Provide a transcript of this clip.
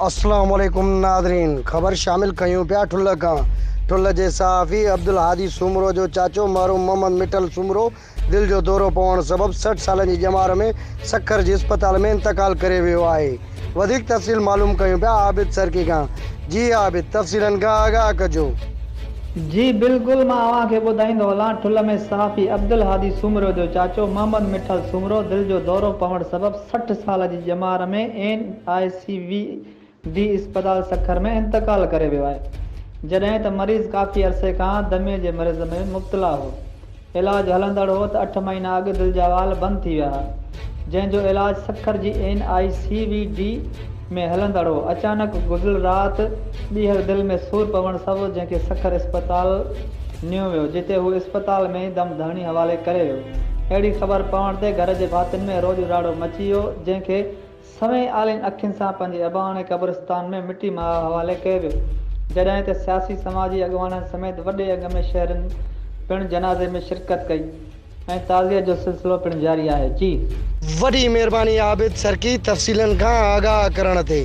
السلام عليڪم ناظرين خبر شامل ڪيون پيا ٺلهه کان ٺلهه جي صحافي عبدالهادي سومرو جو چاچو مرحوم محمد مٺل سومرو دل جو دورو پوڻ سبب سٺ سالن جي ڄمار ۾ سکر جي اسپتال ۾ انتقال ڪري ويو آهي وڌيڪ تفصيل معلوم ڪيون پيا عابد سرڪي کان جي عابد تفصيلن کان آگاهه ڪجو. جي بلڪل مان اوهان کي ٻڌائيندو هلان ٺل ۾ صحافي عبدالهادي سومرو جو چاچو محمد مٺل سومرو دل جو دورو پوڻ سبب سٺ سال جي ڄمار ۾ N I C V D اسپتال سکر ۾ انتقال ڪري ويو آهي جڏهن ته مريض ڪافي عرصي کان دمي جي مرض ۾ مبتلا هو علاج هلندڙ هو ته اٺ مهينا اڳ دل جا وال بند ٿي ويا ها جنهن جو علاج سکر جي N I C V D ۾ هلندڙ هو اچانڪ گذريل رات ٻيهر دل ۾ سور پوڻ سبب جنهن کي سکر اسپتال نيو ويو جتي هو اسپتال ۾ ئي دم ڌرڻي حوالي ڪري ويو اهڙي خبر پوڻ تي گهر جي ڀاتين ۾ روڄ راڙو مچي ويو جنهن کي سوين آلين اکين سان پنهنجي اباڻي قبرستان ۾ مٽي مها حوالي ڪيو ويو، جڏهن ته سياسي سماجي اڳواڻن سميت وڏي انگ ۾ شهرين پڻ جنازي ۾ شرڪت ڪئي ۽ تعزيت جو سلسلو پڻ جاري آهي. جي. وڏي مھرباني عابد سرڪي تفصيلن کان آگاھ ڪرڻ تي.